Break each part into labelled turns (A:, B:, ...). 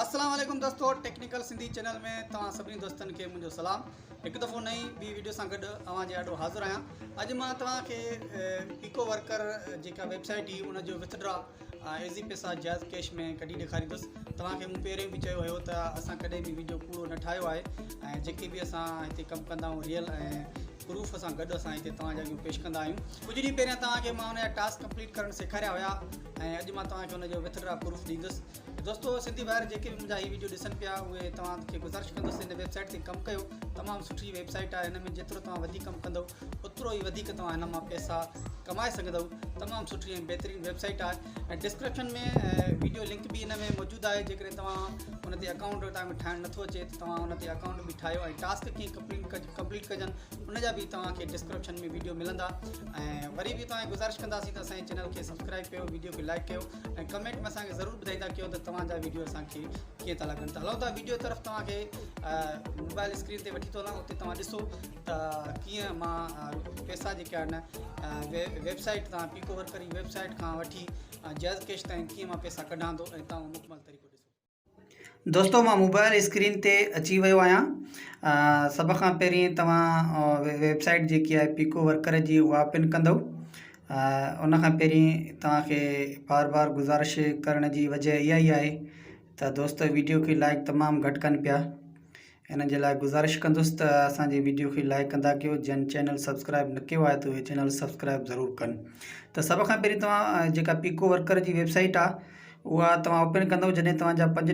A: السلام عليڪم دوستو ٽيڪنيڪل سنڌي چينل ۾ توهان سڀني دوستن کي منهنجو سلام هڪ دفعو نئي ٻي ويڊيو سان گڏ اوهان جي آڏو حاضر آهيان اڄ مان توهان کي ايڪو ورڪر جيڪا ويب سائيٽ هئي ان جو وٿ ڊرا عيزي پيسا جائز ڪيش ۾ ڪڍي ڏيکاريندس توهان کي مون پهريون به چيو هيو ته اسان ڪڏهن به ويڊيو ڪوڙو نه ٺاهيو آهي ۽ جيڪي به اسان هتي ڪم ڪندا آهيون ريئل ۽ پروف سان گڏ اسان هتي توهان جي اڳيون پيش ڪندا آهيون ڪجهه ڏينهن پهريان توهان کي مان ان جا ٽاسڪ ڪمپليٽ ڪرڻ سيکاريا هيا ۽ اڄ مان توهان کي ان جو وٿ ڊرا پروف ڏيندس دوستو سنڌي ڀائر جيڪي به منهنجا هي ويڊيو ڏسن پيا اهي توهان کي گذارش ڪندس ان ويب سائيٽ تي ڪم ڪيو تمام سٺي ويب سائيٽ آهي هن ۾ جيترو توهان وڌيڪ ڪم ڪندو اوترو ئي وڌيڪ توهان هن مان پئسا ڪمائي سگهندؤ تمام سٺي ۽ بهترين ويب سائيٽ آهي ۽ ڊسڪرپشن ۾ ويڊيو لنڪ به هن ۾ موجود آهي جيڪڏهن توهان ان تي اڪائونٽ توهان کي ٺاهڻ نٿو اچي ته توهان ان تي اڪائونٽ به ٺاهيو ۽ ٽاسڪ ڪيئن ڪمپليٽ ڪج ڪمپليٽ ڪجن ان جا به توهان کي ڊسڪرپشن ۾ ويڊيو ملندا ۽ وري به توهان گذارش ڪنداسين ته اسان چينل کي سبسڪرائب ڪيو ويڊيو کي لائڪ ڪيو ۽ ڪمينٽ ۾ اسان کي ضرور ٻڌائيندا ڪيو ته توهان جا ويڊيو اسان کي ڪيئن ٿا لڳن ته هلو ٿا ويڊيو طرف توهان کي موبائل اسڪرين تي وٺي ٿو هلان اتي توهان ڏسو ته ڪيئن مان پئسا جيڪي آهن ويب سائيٽ تان پيڪو ورڪر جي ويب سائيٽ کان وٺي جئز ڪيش تائين ڪيئن مان پئسا ڪڍان ٿو ۽ تان مڪمل طريقو ڏسو دوستو مان موبائل اسڪرين تي اچي ويو آهيان سڀ کان پهرين توهان ويب سائيٽ جيڪي آهي پيڪو ورڪر جي اها پن ڪندو ان کان پهرين توهانکي بار بار گزارش ڪرڻ جي وجه اها ئي آهي ته دوستو ويڊيو کي لائڪ تمام گهٽ ڪن پيا انهن جي لاء گذارش ڪندس ته اسان جي ويڊيو کي لائيڪ ڪندا ڪيو جن چينل سبسڪرائيب نه ڪيو آهي ته اهي چينل سبسڪرائيب ضرور ڪن ته سڀ کان پهرين توهان جيڪا پيڪو ورڪر جي ويب سائيٽ آهي اها توهان اوپن ڪندو جڏهن توهان جا پنج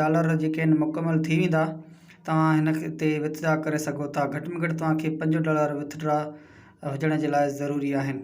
A: ڊالر جيڪي آهن مڪمل ٿي ويندا توهان هن تي وٿ ڊرا ڪري سگهو ٿا گهٽ ۾ گهٽ توهان کي پنج ڊالر وٿ ڊرا هجڻ جي لاء ضروري آهن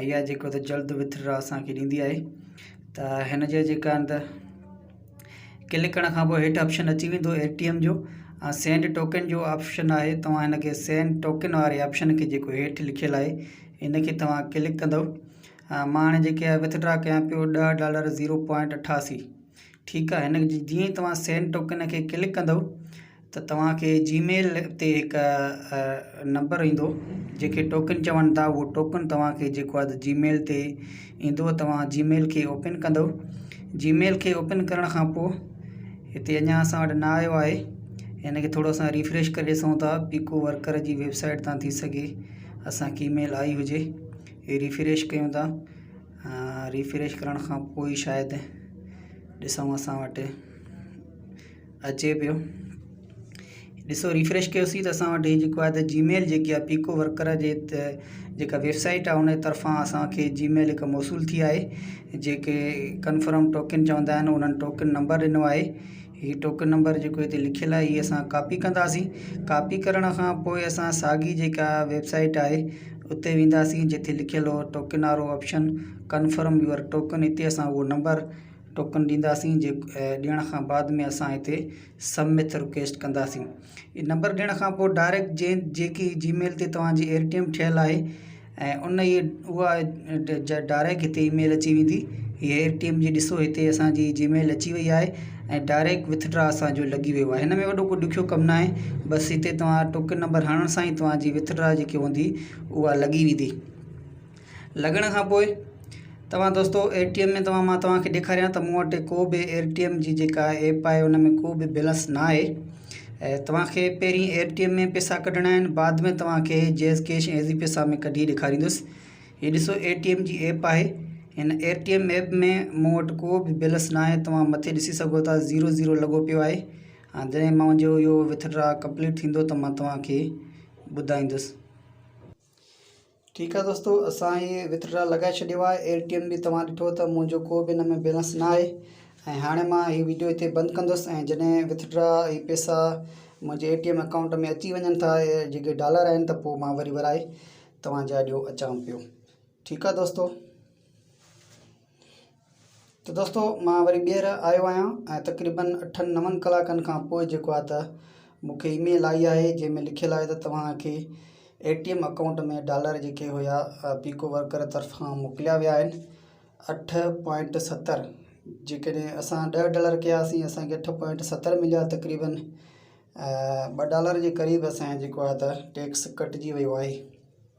A: ۽ اها جيڪو ته جلد وٿر اسان کي ڏيندي آهي ته هن جي جيڪا آهن ته ڪلڪ ڪرڻ کان پوء هيٺ آپشن اچي ويندو اي ٽي ايم جو ۽ سينڊ ٽوڪن جو آپشن آهي توهان هن کي سينڊ ٽوڪن واري آپشن کي جيڪو هيٺ لکيل آهي ان کي توهان ڪلڪ ڪندو مان هاڻي جيڪي آهي وٿڊرا ڪيان پيو ڏهه ڊالر زيرو پوائنٽ اٺاسي ٺيڪ آهي هن جي جيئن توهان سينڊ ٽوڪن کي ڪلڪ ڪندو ته توهان کي جي ميل تي هڪ نمبر ايندو جنهن کي ٽوڪن چون ٿا اهو ٽوڪن توهان کي جيڪو آهي جي ميل تي ايندو توهان جي ميل کي اوپن ڪندو جي ميل کي اوپن ڪرڻ کان پوء هتي اڃا اسان وٽ نه آيو آهي ان کي ٿورو اسان ريفريش ڪري ڏسون ٿا پيڪو ورڪر جي ويبسائيٽ تان ٿي سگهي اسان کي اي ميل آئي هجي هي ريفريش ڪيون ٿا ريفريش ڪرڻ کان پوء شايد ڏسون اسان وٽ اچي پيو ڏسو ريفريش ڪيوسي ته اسان وٽ جيڪو آهي ته جي ميل جيڪي آهي پيڪو ورڪر جي جيڪا ويب سائيٽ آهي ان طرفان اسانکي جي ميل هڪ موصول ٿي آهي جيڪي ڪنفرم ٽوڪن چوندا آهن انهن ٽوڪن نمبر ڏنو آهي هي ٽوڪن نمبر جيڪو هتي لکيل آهي هي اسان ڪاپي ڪنداسين ڪاپي ڪرڻ کان پوء اسان ساڳي جيڪا ويب سائيٽ آهي اتي وينداسين جتي لکيل هو ٽوڪن وارو آپشن ڪنفرم يور ٽوڪن هتي اسان هو نمبر ٽوڪن ڏينداسين جي ڏيڻ کان بعد ۾ اسان هتي سبمٿ رڪويسٽ ڪنداسين هي نمبر ڏيڻ کان پوء ڊائريڪٽ جي جيڪي جي ميل تي توهانجي ايئر ٽي ايم ٺهيل آهي ۽ ان ائي اها ڊائريڪٽ هتي اي ميل اچي ويندي هي ايئر ٽي ايم جي ڏسو هتي اسانجي جي ميل اچي وئي آهي ۽ ڊائريڪٽ وٿڊرا اسانجو لڳي ويو آهي هن ۾ وڏو ڪو ڏکيو ڪم ناهي بس هتي توهان ٽوڪن نمبر هڻڻ سان ئي توهانجي وٿڊرا جيڪي هوندي اها لڳي ويندي لڳڻ کان پوء توهان دوستو ايئر ٽي ايم ۾ توهان مان توهان کي ڏيکاريان ته مون وٽ ڪو به ايئر ٽي ايم جي جيڪا ايپ آهي ان ۾ ڪو به بيلنس نه آهي ۽ توهان کي پهرين ايئر ٽي ايم ۾ پيسا ڪڍڻا آهن بعد ۾ توهان کي جيز ڪيش ۽ ايزي پيسا ۾ ڪڍي ڏيکاريندس هي ڏسو ايئر ٽي ايم جي ايپ آهي هن ايئر ٽي ايم ايپ ۾ مون وٽ ڪو به بيلنس نه آهي توهان مٿي ڏسي سگهو ٿا زيرو زيرو لڳو پيو آهي ها جڏهن منهنجو اهو وٿ ڊرا ڪمپليٽ ٿيندو ته مان توهان کي ٻڌائيندس ٺيڪ آ دوستو اسان هي وٿڙا لڳائي ڇڏيو آهي اير ٽي ايم به توهان ڏٺو ته منهنجو ڪو به ان ۾ بيلنس نه آهي ۽ هاڻي مان هي ويڊيو هتي بند ڪندس ۽ جڏهن وٿڙا هي پيسا منهنجي اير ٽي ايم اڪائونٽ ۾ اچي وڃن ٿا جيڪي ڊالر آهن ته پوء مان وري ورائي توهان جي آڏيو اچان پيو ٺيڪ آ دوستو ته دوستو مان وري ٻيهر آيو آهيان ۽ تقريبن اٺن نون ڪلاڪن کان پوء جيڪو آهي ته مون کي اي ميل آئي آهي جنهن ۾ لکيل آهي ته توهان کي A T M account ۾ dollar جيڪي هيا پيڪو ورڪر طرفان موڪليا ويا آهن اٺ پوائنٽ ستر جيڪڏهن اسان ڏهه ڊالر ڪياسين اسانکي اٺ پوائنٽ ستر مليا تقريبن ٻه ڊالر جي قريب اسانجو جيڪو آهي ته ٽيڪس ڪٽجي ويو آهي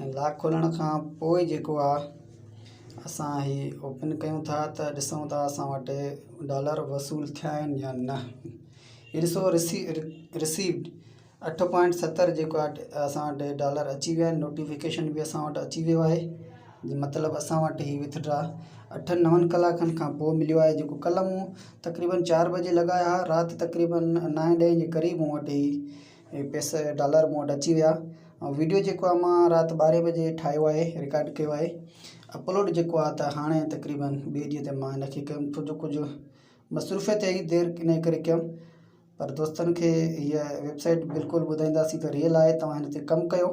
A: ۽ لاڪ کولڻ کان پوء جيڪو آ اسان هي اوپن ڪيون ٿا ته ڏسون ٿا اسان وٽ ڊالر وصول ٿيا آهن يا نه هي ڏسو رسي رسيوڊ اٺ پوائنٽ ستر جيڪو آهي اسان وٽ ڊالر اچي ويا آهن نوٽيفڪيشن بي اسان وٽ اچي ويو آهي مطلب اسان وٽ هي وٿڊرا اٺن نون ڪلاڪن کان پوء مليو آهي جيڪو ڪلهه مون تقريبن چار بجي لڳايا هئا رات تقريبن نائين ڏهين جي قريب مون وٽ هي هي پيسا ڊالر مون وٽ اچي ويا ۽ ويڊيو جيڪو آهي مان رات ٻارهين بجي ٺاهيو آهي رڪارڊ ڪيو آهي اپلوڊ جيڪو آهي ته هاڻي تقريبن ٻئي ڏينهن تي مان هن کي ڪيم ڇو جو ڪجهه مصروفيت هئي دير ان ڪري ڪيم پر دوستن کي هيء ويبسائيٽ بلڪل ٻڌائينداسين ته ريل آهي توهان هن تي ڪم ڪيو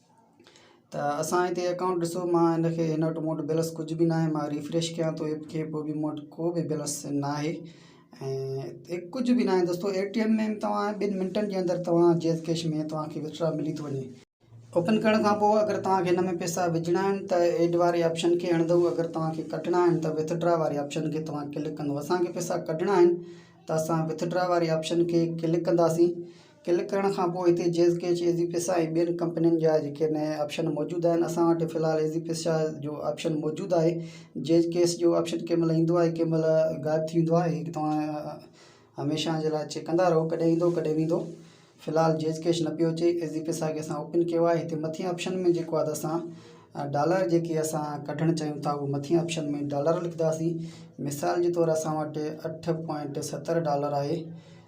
A: ته اسان هتي اڪائونٽ ڏسو مان هن کي هن وٽ مون وٽ بيلنس ڪجهه به ناهي مان ريفريش ڪيان ٿو ايپ کي پوء بي مون وٽ ڪو به بيلنس ناهي ۽ ڪجهه به ناهي دوستو اي ٽي ايم ۾ توهان ٻن منٽن جي اندر توهان جيز ڪيش ۾ توهان کي وٿڙا ملي ٿو وڃي اوپن ڪرڻ کان پوء اگر توهان کي هن ۾ پئسا وجهڻا آهن ته ايڊ واري آپشن کي هڻندو اگر توهان کي ڪڍڻا آهن ته وٿڙا واري آپشن کي توهان ڪلڪ ڪندو اسان کي پئسا ڪڍڻا آهن ته اسان وٿڙا واري آپشن کي ڪلڪ ڪنداسين ڪلڪ ڪرڻ کان پوء هتي جيز ڪيچ، ايزي پيسا ۽ ٻين ڪمپنين جا جيڪي نئين آپشن موجود آهن اسان وٽ في الحال ايزي پيسا جو آپشن موجود آهي جيز ڪيس جو آپشن ڪنهن مهل ايندو آهي ڪنهن مهل غائب ٿي ويندو آهي توهان هميشه جي لاء چيڪ ڪندا رهو ڪڏهن ايندو ڪڏهن ويندو في الحال جيز ڪيش نه پيو اچي ايزي پيسا کي اسان اوپن ڪيو آهي هتي مٿين آپشن ۾ جيڪو آهي اسان ڊالر جيڪي اسان ڪڍڻ چاهيون ٿا اهو مٿين آپشن ۾ ڊالر لکنداسين مثال جي طور اسان وٽ اٺ پوائنٽ ستر ڊالر آهي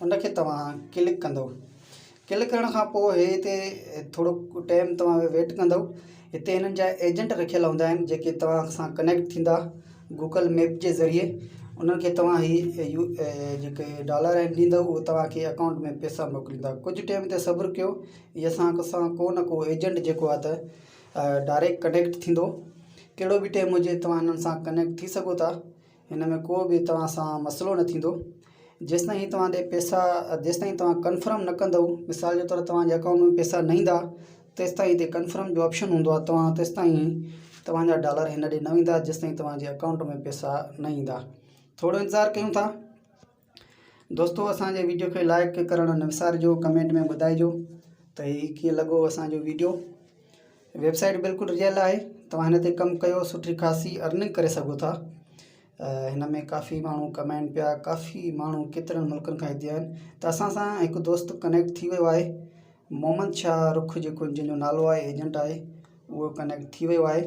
A: ان کي توهان ڪلڪ ڪندو ڪلڪ ڪرڻ کان پوء هتي ٿورو ٽيم توهان ويٽ ڪندو هتي هنن جا ايجنٽ رکيل هوندا آهن جيڪي توهان سان ڪنيڪٽ ٿيندا گوگل ميپ جي ذريعي انهن کي توهان هي جيڪي ڊالر آهن ڏيندو اهي توهان کي اڪائونٽ ۾ پيسا موڪليندا ڪجهه ٽيم تي صبر ڪيو هي اسان سان ڪو نه ڪو ايجنٽ جيڪو آهي ته ڊائريڪٽ ڪنيڪٽ ٿيندو ڪهڙو به ٽيم هجي توهان هنن سان ڪنيڪٽ ٿي سگهو ٿا هن ۾ ڪو به توهان سان مسئلو نه ٿيندو جيستائين هي توهان ڏي پيسا جيستائين توهان ڪنفرم نه ڪندو مثال جي طور توهان جي اڪائونٽ ۾ پيسا نه ايندا تيستائين هتي ڪنفرم جو آپشن هوندو آهي توهان تيستائين توهان جا ڊالر هن ڏي نه ويندا جيستائين توهان جي اڪائونٽ ۾ پيسا نه ايندا ٿورو انتظار ڪيون ٿا دوستو اسان جي ويڊيو کي لائڪ ڪرڻ نه وسارجو ڪمينٽ ۾ ٻڌائجو ته هي ڪيئن لڳو اسان جو ويڊيو ويب سائيٽ بلڪل ريل آهي توهان هن تي ڪم ڪيو سٺي خاصي ارننگ ڪري سگهو ٿا هن ۾ ڪافي ماڻهو ڪمائن پيا ڪافي ماڻهو ڪيترن ملڪن کان هتي آهن ته اسان سان هڪ دوست ڪنيڪٽ ٿي ويو آهي محمد شاهه رخ جيڪو جنهن جو نالو آهي ايجنٽ آهي اهو ڪنيڪٽ ٿي ويو آهي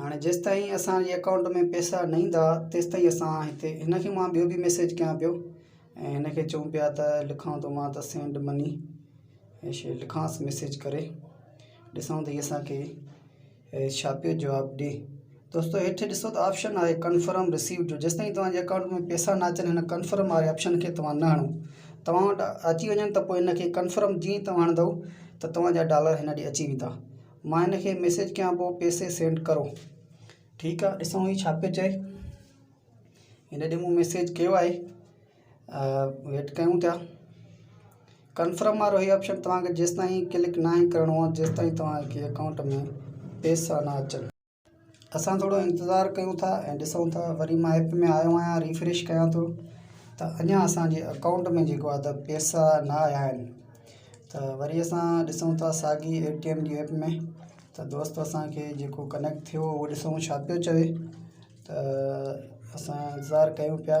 A: هاڻي جيستائين اسان جي اڪائونٽ ۾ پئسا نه ايندا تيستائين اسان هتي هن کي مان ٻيو به ميسيج ڪيان پيو ۽ هن کي چئون پيا ته لکان ٿو مان ته سينڊ مني هي شي لکانس ميسيج ڪري ڏسان ته هي اسان کي ڇا پيو جواب ڏي دوستو هيٺ ڏسو ته آپشن آهي ڪنفرم رسيو جو جيستائين توهان جي اڪائونٽ ۾ پئسا نه اچن هن ڪنفرم واري آپشن کي توهان نه هڻو توهان وٽ اچي وڃن ته پوء هن کي ڪنفرم جيئن توهان هڻندو ته توهان جا ڊالر هن ڏي اچي ويندا مان هن کي ميسيج ڪيان پيو پيسي سينڊ ڪرو ٺيڪ آ ڏسون هي ڇا پيو چئي هن ڏي مون ميسيج ڪيو آهي ويٽ ڪيون ٿا ڪنفرم وارو هي آپشن توهان کي جيستائين ڪلڪ ناهي ڪرڻو آهي جيستائين توهان کي اڪائونٽ ۾ پيسا نه اچن اسان ٿورو انتظار ڪيون ٿا ۽ ڏسون ٿا وري مان ايپ ۾ آيو آهيان ريفريش ڪيان ٿو ته اڃان اسان جي اڪائونٽ ۾ جيڪو آهي ته پيسا نه آيا آهن ته وري اسان ڏسون ٿا ساڳي اي ٽي ايم جي ايپ ۾ ته دوست اسانکي جيڪو ڪنيڪٽ ٿيو هو ڏسون ڇا پيو چوي ته اسان انتظار ڪيون پيا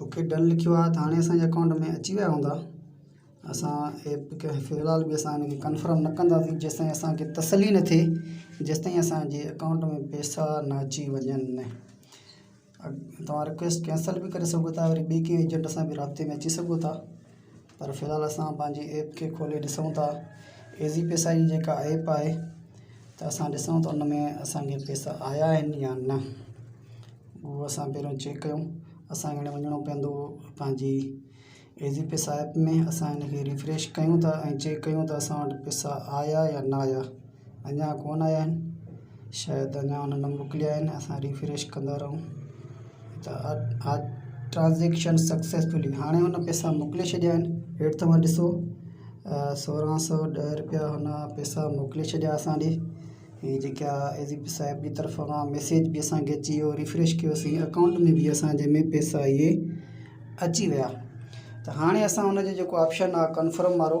A: اوڪي ڊن لکيو آهي ته هاڻي اسان جي اڪائونٽ ۾ اچي ويا هوندا اسان ايپ کي في الحال به اسان ان کي ڪنفرم نه ڪنداسين جيسي تائين اسان کي تسلي نه ٿئي جيسي تائين اسانجي اڪائونٽ ۾ پيسا نه اچي وڃن توهان رڪويسٽ ڪينسل به ڪري سگهو ٿا وري ٻي ڪنهن ايجنٽ سان به رابطي ۾ اچي سگهو ٿا پر في الحال اسان پنهنجي ايپ کي کولي ڏسون ٿا ايزي پيسا جي جيڪا ايپ آهي ته اسان ڏسون ٿا ان ۾ اسانکي پيسا آيا آهن يا نه اهو اسان پهريون چيڪ ڪيون اسانکي هاڻي وڃڻو پوندو پنهنجي ايزي پيسا ايپ ۾ اسان ان کي ريفريش ڪيون ٿا ۽ چيڪ ڪيون ٿا اسان وٽ پيسا آيا يا نه آيا اڃا ڪون آيا آهن شايد اڃا انهن نه موڪليا آهن اسان ريفريش ڪندا رهون ته اها ٽرانزيڪشن سڪسيسفلي هاڻي هن پئسا موڪلي ڇڏيا آهن هيٺ توهان ڏسو سورهن سو ڏهه روپيا هن پئسا موڪلي ڇڏيا اسان ڏي هي جيڪا ايزي پي صاحب جي طرف کان ميسيج به اسانکي اچي ويو ريفريش ڪيوسي اڪائونٽ ۾ به اسانجي ۾ پئسا اهي اچي ويا ته هاڻي اسان هن جو جيڪو آپشن آهي ڪنفرم وارو